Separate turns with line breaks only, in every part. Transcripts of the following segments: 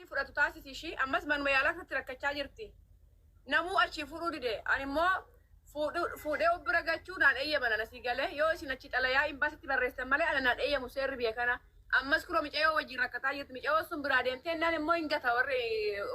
fudhatu taasisi ishii ammas manuma yaalaa keessatti rakkachaa jirti. Namuu achii fuudhuu dide. Ani immoo fuudhu- fuudhee of bira gachuu naan eeyyaman ana sii galee yoo isin achi xalayaa imbaasitti barreessan malee ana naan eeyyamu seerri biyya kana. Ammas kunoo micayoo wajjin rakkataa jirti. Micayoo sun biraa deemtee innaan immoo hin gata warri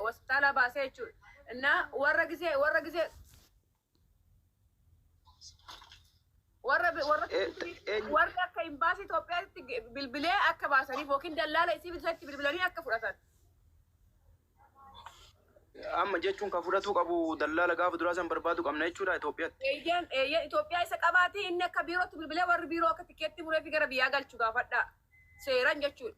hospitaalaa baasee jechuudha. Innaa warra gisee warra gisee Warra warra Eh, eh, warri akka imbaasii Itoophiyaatti bilbilee akka baasaniif yookiin dallaala isii bilisatti bilbilanii akka fudhatan.
Amma jechuun kan fudhatuu qabu dallaala gaafa duraa san barbaadu qabna jechuudha Itoophiyaatti. Eeyyeen eeyyeen Itoophiyaa
isa qabaatii inni akka biirootti bilbilee warri biiroo akka tikeetti muree fi gara biyyaa galchu gaafadhaa. Seeran jechuudha.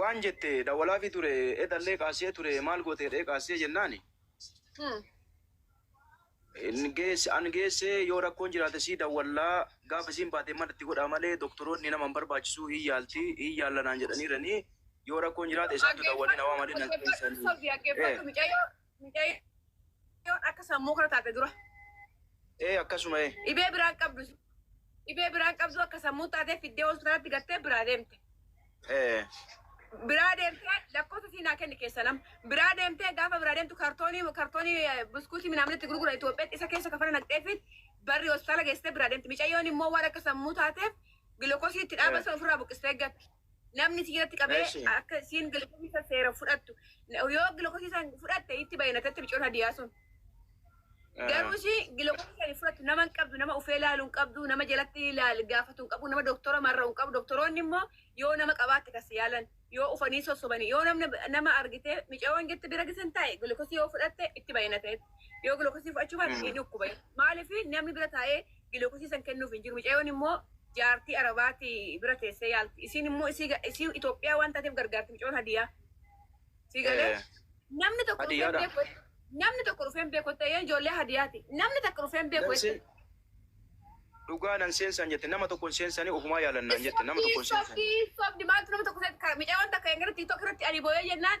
waan jette dawalaafi ture edallee kaasee ture maal goote jedhee kaasee jennaani Hmm. hin geesse an geesse yoo rakkoon jiraate sii dawwallaa gaafa isiin baate mana itti godhaa malee doktoroonni nama hin barbaachisu hin yaalti hin yaalla naan jedhaniiranii yoo rakkoon jiraate isaantu dawwalee na waamanii naan Dhaggeeffadhu, keessanii. sobi, dhaggeeffadhu, Eh. mucayyoo. Mucayyoon
akka sammuu kana taate dura. Ee
akkasuma ee. Dhibee biraan
qabdu. Dhibee biraan qabdu akka sammuu taatee fiddee hospitaalatti gattee biraa deemte. Ee. Biraa deemtee lakkoofsa siinaa kenni keessa nam. Biraa deemtee gaafa biraa deemtu kartoonii kartoonii eh, buskuutii midhaan itti gurgura Itoophiyaatti isa keessa kafana naqxee fi barri hospitaala geessitee biraa deemte. Mucayyoon immoo waan akka sammuu taateef gilookosii itti dhaabasa ofirraa buqqistee gatti. Namni si jalatti qabee Eshi. akka isiin gilkosii san seera fudhattu. Yoo gilkosii san fudhatte itti bayanatatti micoon hadiyaa sun. Garuu ishii gilkosii san hin fudhattu nama hin qabdu nama ufee laalu hin qabdu nama jalatti laal gaafatu hin qabu nama doktora marra hin qabu doktoroonni immoo yoo nama qabaatte kasi yaalan yoo ufanii sossobanii yoo namni nama argitee micayoon jirti bira gisan taa'e gilkosii yoo fudhatte itti bayanatee yoo gilkosii fudhachuu baate ni dhukkuba maaliif namni bira taa'ee gilokosiisan kennuuf hin jiru. Micayoon immoo jaartii Arabaati bira teessee yaalti. Isiin immoo isii ga- isii Itoophiyaa waan taateef gargaarti micayoon hadiyaa. Sii galee Eh, namni tokko dhufee hin Hadiyyaadha. beeku. Namni tokko dhufee hin beeku. Ta'een ijoollee hadiyaati. Namni tokko dhufee hin beeku. Nan seen-
Dhugaa nan seensan jette nama tokko hin seensanii ofumaa yaalannaan jette nama tokko hin seensanii. Sobdi maaltu nama tokko
seet kara micayoon takka hin gara tiiktook irratti ani booyee jennaan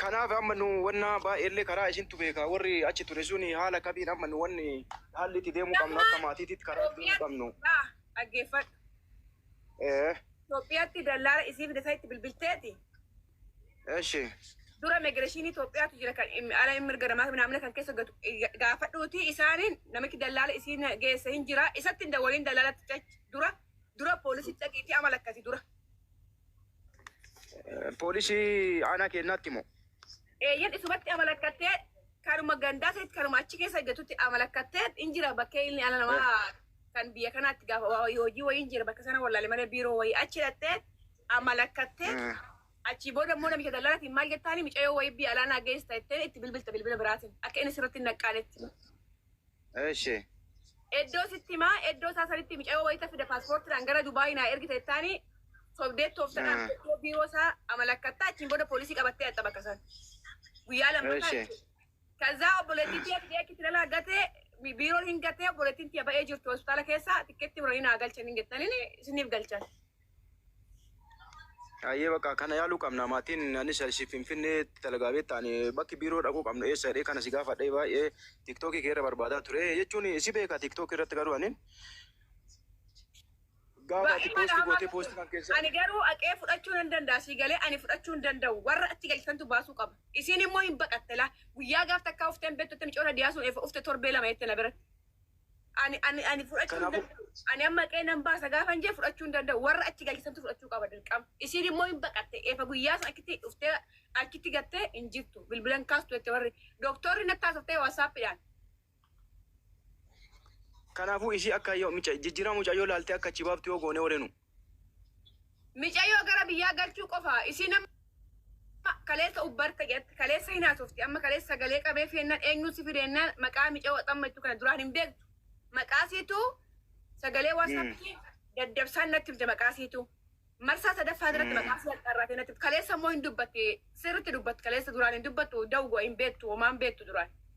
Kanaaf amma nu wanna baay'eellee karaa isintu beeka warri achi ture suni haala kamiin amma nu wanni haalli itti deemuu qabnu akka maatiititti karaa itti deemuu qabnu.
Dhaggeeffadhu. Ee. Itoophiyaatti dallaala isii fide sanitti bilbilteeti.
Eshi. Dura
immigireeshinii Itoophiyaatu jira kan im- ala mirga namaa naamna kan keessa gatu ga- gaafadhuuti isaaniin namichi dallaala isii na- geesse hin jira isatti hin dawwaliin dallaalatti cach dura dura poolisitti dhaqiitii amala akkasi dura.
Poolisii aanaa keenyaatti moo? Eeyyen isumatti
amalakkattee kanuma gandaa ta'etti kanuma achi keessa hojjetutti amalakkattee in jira bakkee inni ala namaa kan biyya kanaatti gaafa waa wayii hojii wayii in jira bakka sana wallaale malee biiroo wayii achi dhattee amalakkattee achii booda immoo namicha dallaratiin maal jettaani micayoo wayii biyya alaanaa geessa jettee itti bilbilta bilbila biraatiin akka inni sirratti hin naqqaanetti. Eshi.
Eddoo
sitti himaa eddoo isaa sanitti micayoo wayita fida paaspoortiidhaan gara Dubaayii naa ergita jettaani sobdee tooftadhaan Ah. eddoo biiroo isaa amalakkatta achiin booda poolisii qabattee dhaqxa bakka san. Guyyaa lammataa Eshi. jechuudha. Kazaa obboleettiin tiyya fidee achitti lalaa gatee bi- biiroon hin gatee obboleettiin tiyya ba'ee jirti hospitaala keessa tikkeetti muranii naa galchan hin gettanin isiniif galchan.
Ayyee bakka kana yaaluu qabna maatiin anis si finfinnee dalagaa beekta ani bakki biiroo dhaquu qabnu eessa jedhee kana si gaafadhee baay'ee tiktookii kee irra barbaadaa ture jechuun si beeka tiktookii irratti garuu ani gaafa ati poostii gootee poostii kan keessa Ani garuu aqee fudhachuu
nan danda'a sii galee ani fudhachuu hin danda'u warra achi galchitantu baasuu qaba. Isiin immoo hin baqatte laa guyyaa gaaf takkaa ufteen beektu itti micoota diyaasuun eefa ufte torbee lama jette na biratti. Ani ani ani fudhachuu hin Kanaafuu- danda'u. Ani amma qe'ee nan baasa gaafa hin jee fudhachuu hin danda'u. Warra achi galchisantu fudhachuu qaba dirqama. Isiin immoo hin baqatte. Eefa guyyaa sana achitti dhuftee achitti gattee hin jirtu. Bilbilan kaastu jette warri. Dooktorri natti haasoftee waasaappiidhaan.
Kanaafuu isii akka yoo mica jijjiirama mucayyoo laaltee akka achi baaftu yoo goonee warenu.
Micayoo gara biyyaa galchuu qofa isiin amma kaleessa ubbarte jette kaleessa hin haasofti amma kaleessa sagalee qabee feennaan eenyuun si fideennaan maqaa micayoo xamma jechuu kana duraan hin beektu maqaa siitu sagalee waasaappiin daddabsaan natti himte maqaa siitu marsaa sadaffaa irratti maqaa sii axxarraatee natti kaleessa immoo hin dubbatti sirritti dubbatti kaleessa duraan hin dubbattu dawgo hin beektu homaan beektu duraan.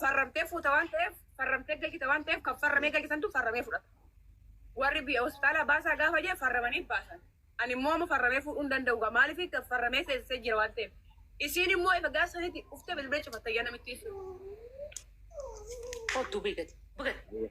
farramtee fuuta waan ta'eef farramtee galchita waan ta'eef kan farramee galchisantu farramee fudhata. Warri biyya hospitaala baasaa gaafa jee farramanii baasan. Ani immoo amma farramee fuudhuu hin danda'u gaa maaliif kan farramee seensisee jira waan ta'eef. Isiin immoo efa gaafa sanitti dhuftee bilbila cufatta yaa namittiin sun.
Kottu beekati. Bugatti.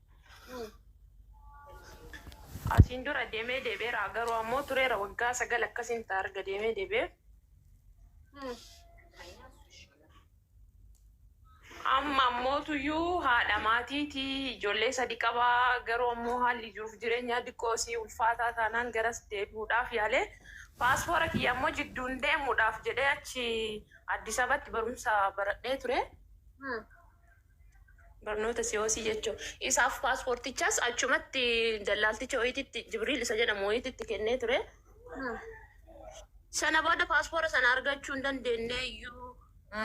Asiin dura deemee deebi'eera garuu ammoo tureera waggaa sagal akkasiin ta'a erga deemee deebi'ee. Amma ammootuyyuu haadha maatiiti ijoollee sadi qaba garuu ammoo haalli jiruuf jireenyaa diqqoo isii ulfaataa taanaan garas deebi'uudhaaf yaalee paaspoora kiyya ammoo jidduun deemuudhaaf jedhee achi Addis Abatti barumsa baradhee ture. Barnoota Si'oosii jechuun isaaf paaspoortichas achumatti dallaalticha wayiititti Jibriil isa jedhamu wayiititti kennee ture. Sana booda paaspoora sana argachuu hin dandeenye iyyuu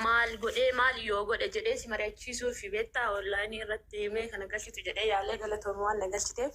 maal godhee maal yoo godhe jedhee si mari'achiisuu fi beektaa onlaayinii irratti mee kana galchitu jedhee yaalee galatoomi waan na galchiteef.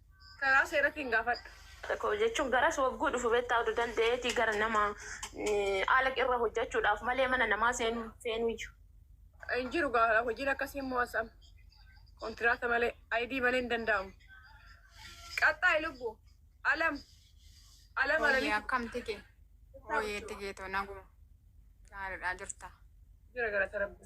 Karaa seeratiin gaafadhu. Koo jechuun
garas wagguu dhufu bettaa odu danda'eeti gara nama ala irra hojjachuudhaaf malee mana namaa seenuu hin feenuyyu. Hin jiru
gaa hojiin akkasii immoo as am kontiraata malee ID malee hin danda'amu. Qaxxaayi lubbu. Alam alam
Hooyyee alamitu akkam tike? Jirtaa Hooyyee bultu. tike too naguma. Gaariidhaa jirtaa? Jira galata
rabbi.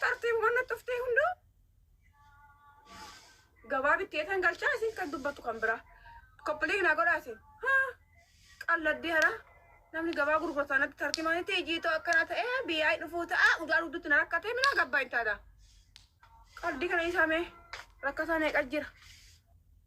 Tartee hubanna tuftee hunduu gabaabitti eetan galchaa isin kan dubbattu kan biraa. Koppilee naa godhaa isin. Haa qalladdee haraa. Namni gabaa gurgurtaa natti tartimaanitti ijiitoo akkana ta'ee biyyaa dhufuu ta'a udaa dugdutti na rakkatee minaa gabbaa hin taata. Qaldi kana isaamee rakkataa meeqa jira.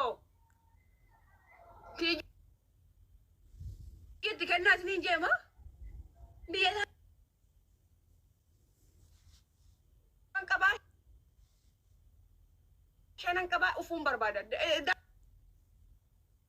o Tijii itti kennaa isiniin jee moo biyya isaan qabaa shanan qabaa ufuun barbaada. Da- da-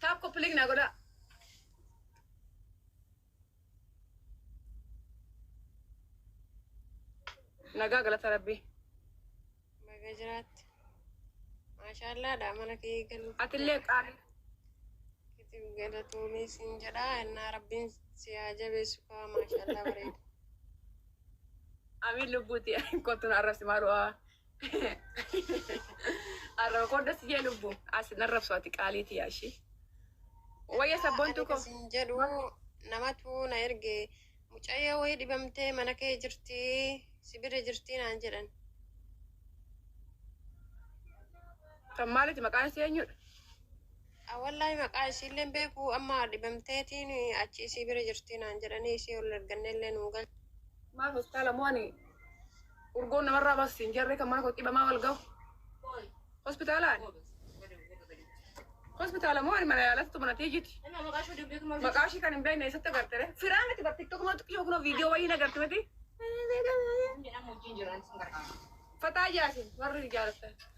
Taap koppilik naa godhaa. Nagaa galata rabbii.
Baga jiraatte. Maashaallaadha mana kee galu. Atillee qaali. Kitiif galatoomii siin jedha. Innaa rabbiin si haa jabeessu kaa maashaallaa bareeda. Amiin
lubbuuti kottu na arrabsi maaloo. Arraba koo das jee lubbu. As nan rabsu ati qaalii tiyaa ishee. Wayya sabboontuu koo. Sin jedhu
namatu na erge mucayyoo wayii dhibamtee mana kee jirti si bira jirti naan jedhan.
Kan maaliti maqaan ishee eenyudha? Awwallahi
maqaa isiilleen beeku amma dhibamteetiin achi isii bira jirti naan jedhanii isii ol ergannellee nuu gal. Maaf hospitaala
moo ani Urgoon namarraa baasa siin jarree kan mana koo qibamaa wal gahu. Hospitaalaan. Hospitaala moo ani mana yaalatti mana tiyyiti. Maqaa ishii kan hin beekne eessatti agarte ree? Firaan itti bar tiktok moo xiqqoo kunoo viidiyoo wayii hin agarte miti. Fataa yaasin warri jaalatan.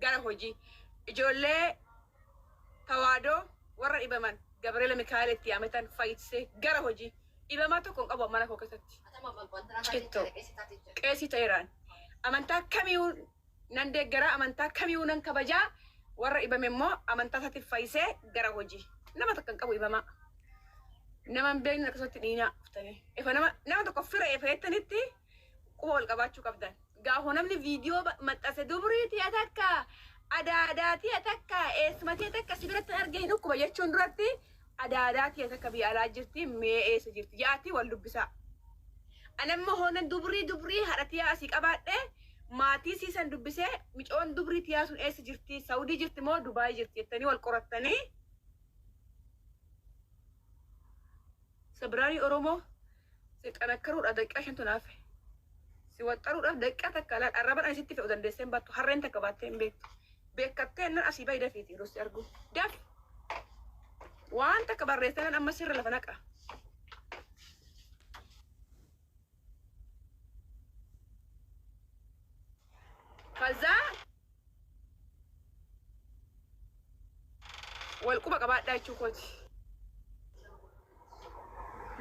Gara hojii. Ijoollee tawaadoo warra dhibaman Gabriela Mikaela itti yaametan fayyise gara hojii. Dhibamaa tokko hin qabu mana koo keessatti. Cittoo. Qeesii ta'eeraan. Amantaa kamiyuu nan deeggaraa, amantaa kamiyuu nan kabajaa, warra dhibame immoo amantaa isaatiin fayyisee gara hojii. Nama takka hin qabu dhibamaa. Nama hin beekne akkasumatti dhiinaa dhuftanii. Efa nama nama tokko fira efa jettanitti quba wal qabaachuu qabdan. Gaafuma namni viidiyoo maxxanse dubrii tiya takka adaadaa tiya takka eessuma tiya takka si biratti arge hin dhukkuba jechuun duratti adaadaa tiya takka biyya alaa jirti mee eessa jirti ja'aatii wal dubbisaa. Anamma hoonan dubrii dubrii haadha tiyaa asii qabaadhe maatii sii san dubbisee micoon dubrii tiyaa sun eessa jirti Saawudii jirti moo Dubaayii jirti jettanii wal qorattanii Sabiraarii Oromoo Si xanakkaruudhaaf daqiiqaa shantu naaf fehe. Si waxxaruudhaaf daqiiqaa takka laal arraban ani sitti fe'u dandeessee hin baattu harreen takka baattee hin beektu. Beekattee nan asii bahi dafiiti yeroo si argu. Dafi! Waan takka barreessee nan amma sirra lafa naqa. Kazaa Wal quba qabaadhaa jechuu kooti.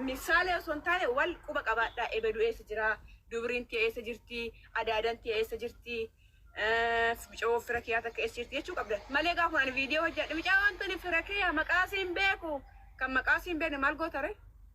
Misaalee osoo hin taane wal quba qabaadhaa. Ebedu eessa jira? Dubriin tee eessa jirti? Adaadan tee eessa jirti? Micoo fira kiyaa takka eessa jirti jechuu qabdan. Malee gaafa ani viidiyoo hojjedhe micaa wantoonni fira kiyaa maqaa siin beeku kan maqaa siin beekne maal goota ree?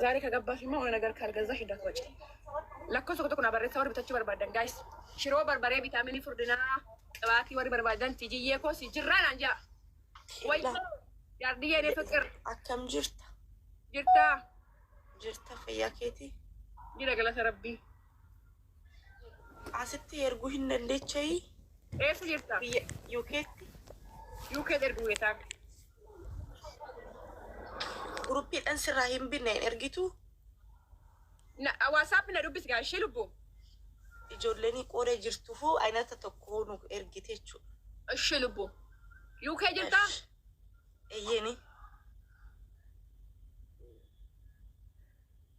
Zaaree kagabbaaf immoo ona nagar kaalgazzaa hidda koo cee. Lakkoofsa tokko tokko naa barreessaa warri bitachuu barbaaddan guys. Shiroo barbaree vitaaminii furdinaa qibaatii warri barbaaddan tijiyyee koo si jirraa naan jaa. Wayyoo jaardiyyee nee fiqir Akkam jirta?
jirtaa Jirta fayyaa keetii? jira galata
rabbii.
Asitti erguu hin dandeechayii? Eessa
jirta? Biyya UKtti?
UK
ergu geetaa.
Guruppiidhan sirraa hin binne hin ergituu? Na,
WhatsApp na dubbisi gaa ishee lubbu. Ijoollenii
qoodee jirtufuu aynata tokkoo nu ergite jechuudha. Ishee
lubbu. UK jirtaa? Ash. Eyyeni.